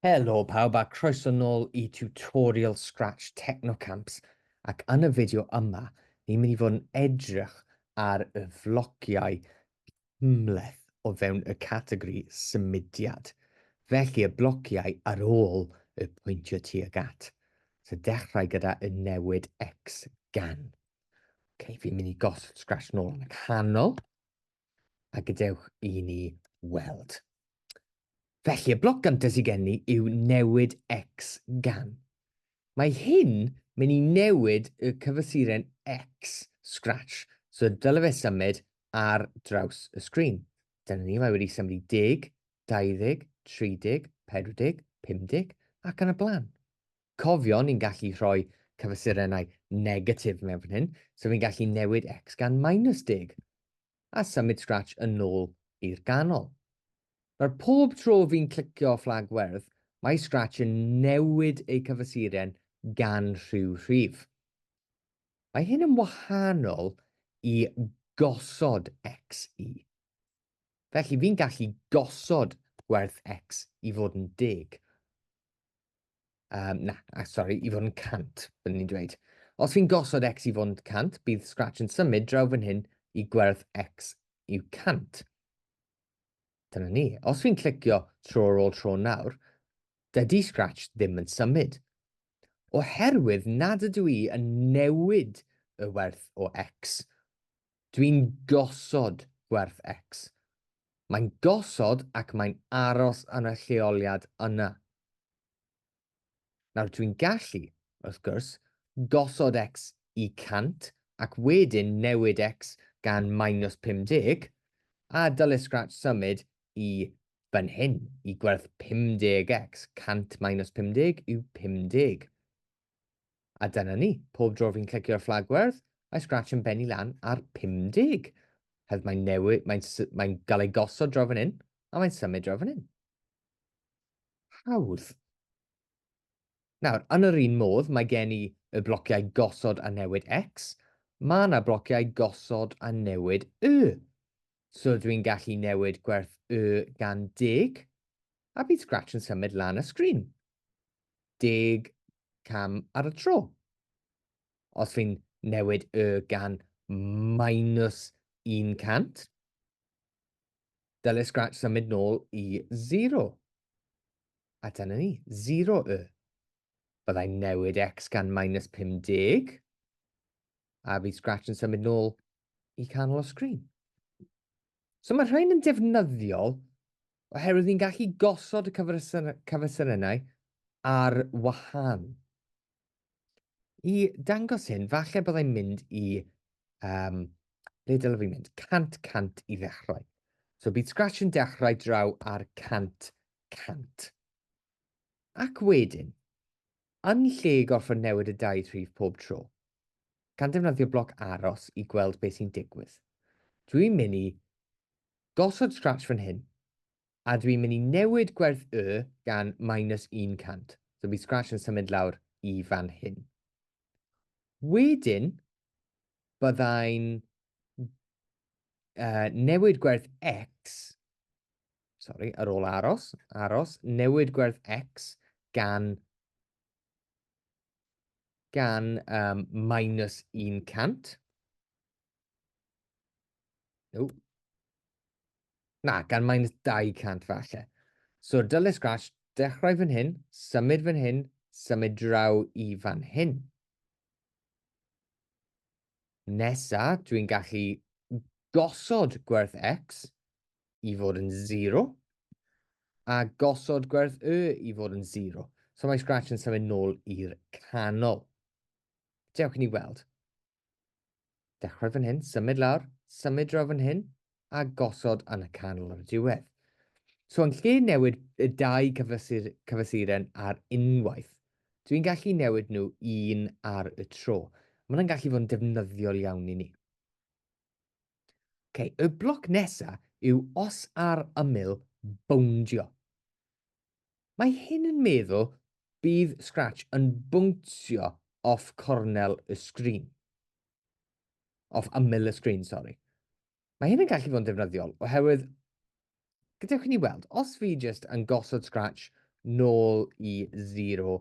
Helo pawb a croeso nôl i tutorial Scratch Technocamps ac yn y fideo yma ni'n mynd i fod yn edrych ar y flogiau cymhleth o fewn y categori symudiad. Felly y blociau ar ôl y pwyntio tuag at. So dechrau gyda y newid X gan. Ok, fi'n mynd i gosod scratch nôl yn y canol. A gadewch i ni weld. Felly, y bloc gyntaf sydd gen ni yw newid x gan. Mae hyn mynd i newid y cyfysuren x scratch, so dylai fe symud ar draws y sgrin. Dyna ni, mae wedi symud i 10, 20, 30, 40, 50 ac yn y blaen. Cofio, ni'n gallu rhoi cyfesurennau negatif mewn fan hyn, so fi'n gallu newid x gan minus 10, a symud Scratch yn ôl i'r ganol. Nawr, pob tro fi'n clicio fflag werdd, mae Scratch yn newid eu cyfesuren gan rhyw rhif. Mae hyn yn wahanol i gosod x i. Felly, fi'n gallu gosod gwerth x i fod yn deg. Um, na, ah, sorry, i fod yn 100, byddwn ni'n dweud. Os fi'n gosod x i fod yn 100, bydd Scratch yn symud draw fan hyn i gwerth x yw 100. Dyna ni. Os fi'n clicio tro ar ôl tro nawr, dydy Scratch ddim yn symud. Oherwydd nad ydw i yn newid y werth o x, Dwi'n gosod gwerth X. Mae'n gosod ac mae'n aros yn y lleoliad yna. Nawr, dwi'n gallu, wrth gwrs, gosod X i 100 ac wedyn newid X gan minus 50, a dyle Scratch symud i fan hyn, i gwerth 50X, 100 minus 50 yw 50. A dyna ni, pob dro fi'n clicio'r fflag werdd, mae Scratch yn benni lan ar 50. Hedd mae'n newid, mae'n mae gael ei gosod draw fan hyn, a mae'n symud draw fan hyn. Hawdd. Nawr, yn yr un modd, mae gen i y blociau gosod a newid X, mae yna blociau gosod a newid Y. So dwi'n gallu newid gwerth Y gan deg, a bydd Scratch yn symud lan y sgrin. deg cam ar y tro. Os fi'n newid y gan minus 100, dyle Scratch symud nôl i 0. A dyna ni, 0 y. Byddai'n newid x gan minus 50, a fi Scratch yn symud nôl i canol y sgrin. So mae rhain yn defnyddiol oherwydd ni'n gallu gosod y cyfersynennau ar wahân. I dangos hyn, falle byddai'n mynd i, um, ble dylai fi mynd, 100 100 i ddechrau. So bydd Scratch yn dechrau draw ar 100 100. Ac wedyn, yn lle gorfod newid y dau rhif pob tro, gan defnyddio bloc aros i gweld beth sy'n digwydd. Dwi'n mynd i gosod scratch fan hyn, a dwi'n mynd i newid gwerth y gan minus 100. So bydd scratch yn symud lawr i fan hyn. Wedyn, byddai'n uh, newid gwerth x, sorry, ar ôl aros, aros, newid gwerth x gan gan um, minus 100. Ww. Na, gan minus 200 falle. So dyle Scratch dechrau fan hyn, symud fan hyn, symud draw i fan hyn. Nesa, dwi'n gallu gosod gwerth x i fod yn 0 a gosod gwerth y i fod yn 0. So mae Scratch yn symud nôl i'r canol. Dewch i ni weld. Dechrau fan hyn, symud lawr, symud draw fan hyn, a gosod yn y canol ar y diwedd. So yn lle newid y dau cyfysur, cyfysuren ar unwaith, dwi'n gallu newid nhw un ar y tro. Mae hwnna'n gallu fod yn defnyddiol iawn i ni. Okay, y bloc nesaf yw os ar ymyl bowndio. Mae hyn yn meddwl bydd Scratch yn bwngtio off cornel y sgrin. Off ymyl y sgrin, sori. Mae hyn yn gallu fod yn defnyddiol, oherwydd, gadewch i ni weld, os fi jyst yn gosod Scratch nôl i 0,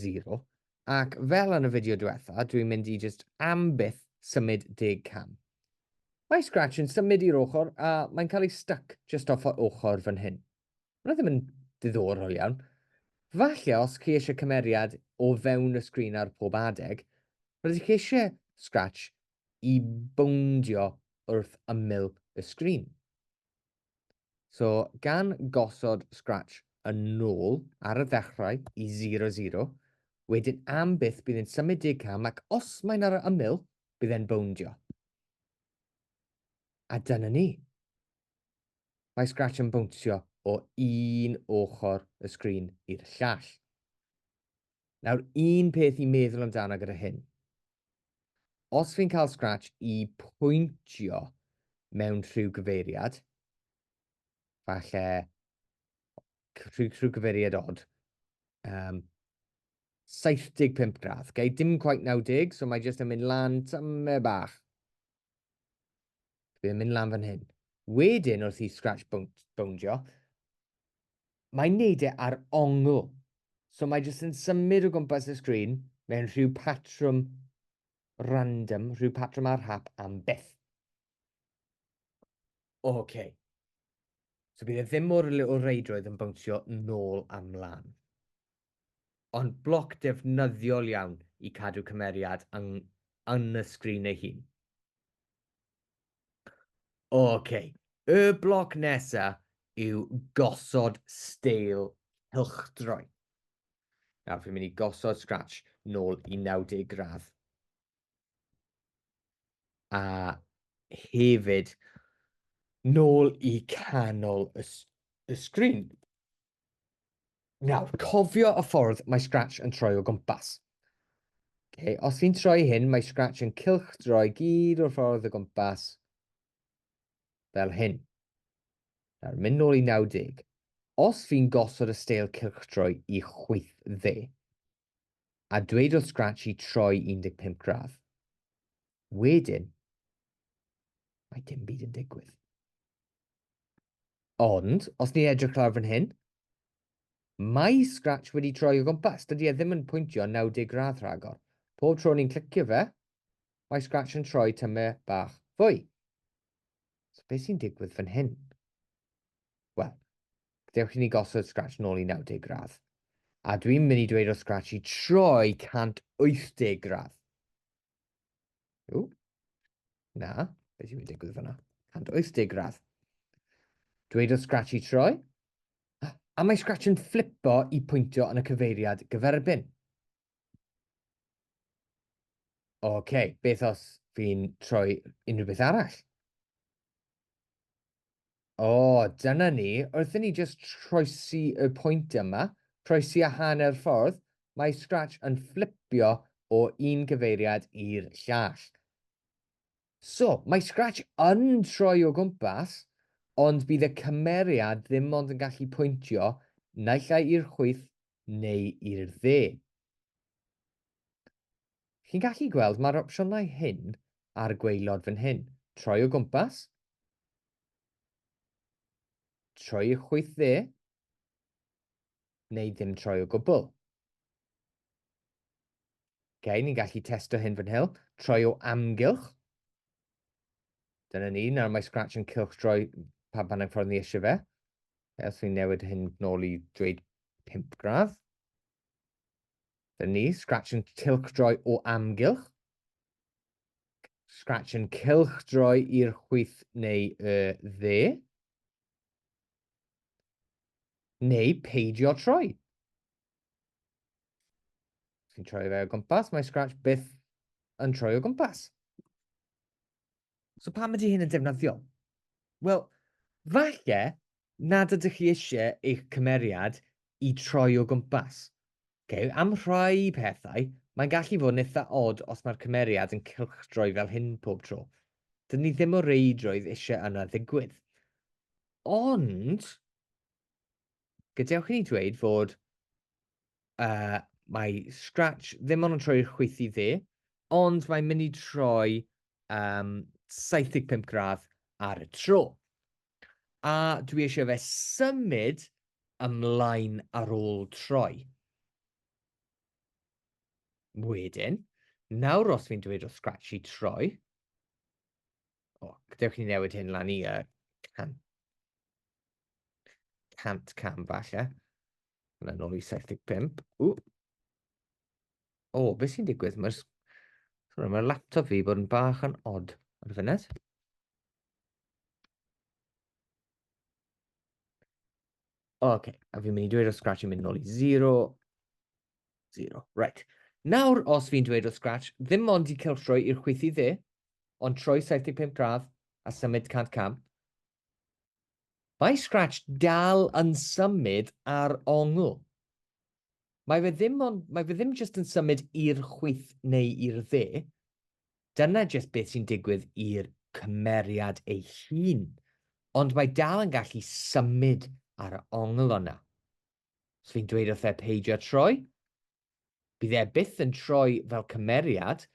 0, ac fel yn y fideo diwetha, dwi'n mynd i jyst am byth symud deg cam. Mae Scratch yn symud i'r ochr a mae'n cael ei stuck just off y ochr fan hyn. Mae ddim yn ddiddorol iawn. Falle os chi eisiau cymeriad o fewn y sgrin ar pob adeg, rydych chi eisiau Scratch i bowndio wrth ymyl y sgrin. So, gan gosod Scratch yn nôl ar y ddechrau i 00, wedyn am byth bydd yn symud deg cam ac os mae'n ar y ymyl, bydd e'n bowndio. A dyna ni. Mae Scratch yn bownsio o un ochr y sgrin i'r llall. Nawr, un peth i meddwl amdano gyda hyn. Os fi'n cael Scratch i pwyntio mewn rhyw gyfeiriad, falle rhyw, rhyw gyfeiriad od, um, 75 gradd, okay? dim quite 90, so mae jyst yn mynd lan tyme bach. Dwi'n mynd lan fan hyn. Wedyn wrth i Scratch bowndio, mae'n neud e ar ongl. So mae jyst yn symud o gwmpas y sgrin mewn rhyw patrwm random, rhyw patrwm ar hap am byth. Oce. Okay. So bydd e ddim mor o reidrwydd yn bwnsio nôl a mlaen. ond bloc defnyddiol iawn i cadw cymeriad yn y sgrin ei hun. Ok, y bloc nesa yw gosod steil cylchdroi. Nawr, fi'n mynd i gosod Scratch nôl i 90 gradd. A hefyd, nôl i canol y, y sgrin. Nawr, cofio y ffordd mae Scratch yn troi o gwmpas. Okay, os fi'n troi hyn, mae Scratch yn cilch droi gyd o'r ffordd o gwmpas fel hyn. Nawr, mynd nôl i 90. Os fi'n gosod y steil cilch droi i chwyth dde, a dweud wrth Scratchy troi 15 gradd. Wedyn, mae dim byd yn digwydd. Ond, os ni'n edrych lawr fan hyn, mae Scratch wedi troi o gwmpas. Dydy e ddim yn pwyntio 90 gradd rhagor. Pob tro ni'n clicio fe, mae Scratch yn troi tyme bach fwy. So beth sy'n digwydd fan hyn? wel, dewch i ni gosod scratch nôl i 90 gradd. A dwi'n mynd i dweud o scratch i troi 180 gradd. Ww. Na, beth yw'n digwydd fyna? 180 gradd. Dweud o scratch i troi. A mae scratch yn flipo i pwyntio yn y cyfeiriad gyferbyn. OK, beth os fi'n troi unrhyw beth arall? O, dyna ni. Wrth i ni just troesi y pwynt yma, troesi a hanner ffordd, mae Scratch yn fflipio o un gyfeiriad i'r llall. So, mae Scratch yn troi o gwmpas, ond bydd y cymeriad ddim ond yn gallu pwyntio naill ai i'r chwyth neu i'r dde. Chi'n gallu gweld mae'r opsiynau hyn a'r gweilod fan hyn. Troi o gwmpas, troi y chwyth dde, neu ddim troi o gwbl. Okay, ni'n gallu testo hyn fan hyn, troi o amgylch, Dyna ni, nawr mae Scratch yn cylchdroi pan pan ffordd ni eisiau fe. Os fi'n newid hyn nôl i dweud 5 gradd. Dyna ni, Scratch yn cylchdroi o amgylch. Scratch yn cylchdroi i'r chwyth neu y dde. Neu peidio troi. Fi'n troi fe o gwmpas, mae Scratch byth yn troi o gwmpas. So pam ydy hyn yn defnyddiol? Wel, falle nad ydych chi eisiau eich cymeriad i troi o gwmpas. Okay? Am rhai pethau, mae'n gallu fod yn eitha od os mae'r cymeriad yn cylchdroi fel hyn pob tro. Dyn ni ddim o reidrwydd eisiau yna ddigwydd. Ond, gadewch i ni dweud fod uh, mae Scratch ddim ond yn troi'r chwyth i dde, ond mae'n mynd i troi um, 75 gradd ar y tro. A dwi eisiau fe symud ymlaen ar ôl troi. Wedyn, nawr os fi'n dweud o Scratch i troi, o, gadewch ni newid hyn lan i uh, can, 100 cam falle. Mae'n nôl i 75. O, O, beth sy'n digwydd? Mae'r so, mae laptop fi bod yn bach yn odd ar y funud. Oce, okay. a fi'n mynd i dweud o Scratch yn mynd nôl i 0. 0, right. Nawr, os fi'n dweud o Scratch, ddim ond i celtroi i'r chwythu dde, ond troi 75 gradd a symud 100 cam, Mae Scratch dal yn symud ar ongl. Mae fe ddim ond, mae fe ddim jyst yn symud i'r chwith neu i'r dde. Dyna jyst beth sy'n digwydd i'r cymeriad ei hun, ond mae dal yn gallu symud ar ongl o'na. Os fi'n dweud wrtho fe peidio troi, Bydd e byth yn troi fel cymeriad,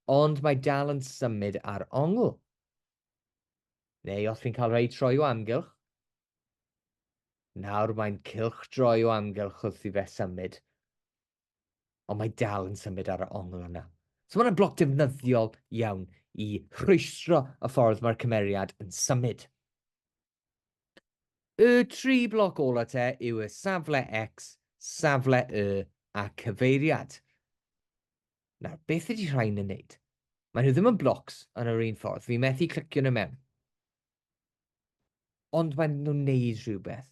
ond mae dal yn symud ar ongl. Neu os fi'n cael rhai troi o amgylch, nawr mae'n cylch droi o amgylch wrth i fe symud, ond mae dal yn symud ar y ongl yna. So mae'n bloc defnyddiol iawn i rhwystro y ffordd mae'r cymeriad yn symud. Y tri bloc ola te yw y safle X, safle Y a cyfeiriad. Nawr, beth ydy rhain yn neud? Mae nhw ddim yn blocs yn yr un ffordd. Fi methu clicio nhw mewn. Ond maen nhw'n neud rhywbeth.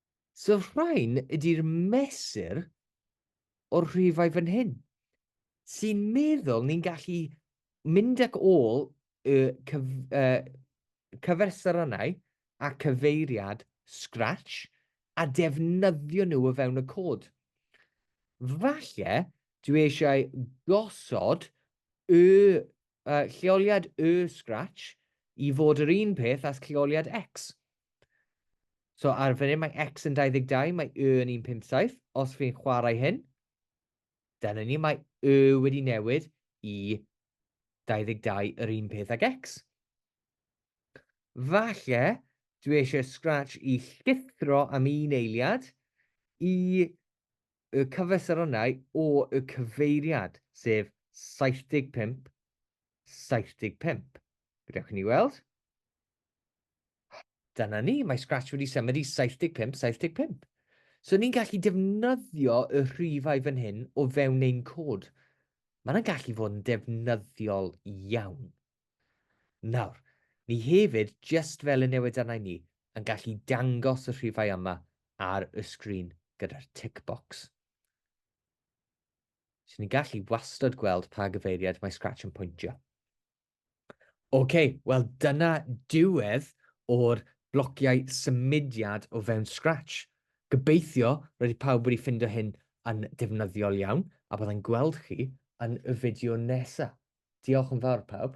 So rhain ydy'r mesur o'r rhifau fan hyn, sy'n meddwl ni'n gallu mynd ac ôl y cyf, uh, cyfersyrannau a cyfeiriad Scratch a defnyddio nhw o fewn y cod. Falle dwi eisiau gosod y uh, lleoliad y Scratch i fod yr un peth as lleoliad X. So ar fan hyn mae x yn 22, mae y yn 157. Os fi'n chwarae hyn, dyna ni, mae y wedi newid i 22 yr un peth ag x. Falle, dwi eisiau scratch i llithro am un eiliad i y cyfesaronau o y cyfeiriad, sef 75, 75. Gadewch ni weld. Dyna ni, mae Scratch wedi symud i 75, 75. So ni'n gallu defnyddio y rhifau fan hyn o fewn ein cod. Mae'n gallu fod yn defnyddiol iawn. Nawr, ni hefyd, just fel y newid arna ni, yn gallu dangos y rhifau yma ar y sgrin gyda'r tick box. So ni'n gallu wastad gweld pa gyfeiriad mae Scratch yn pwyntio. Ok, wel dyna diwedd o'r blociau symudiad o fewn Scratch. Gobeithio roedd i pawb wedi ffindo hyn yn defnyddiol iawn, a byddai'n gweld chi yn y fideo nesa. Diolch yn fawr pawb.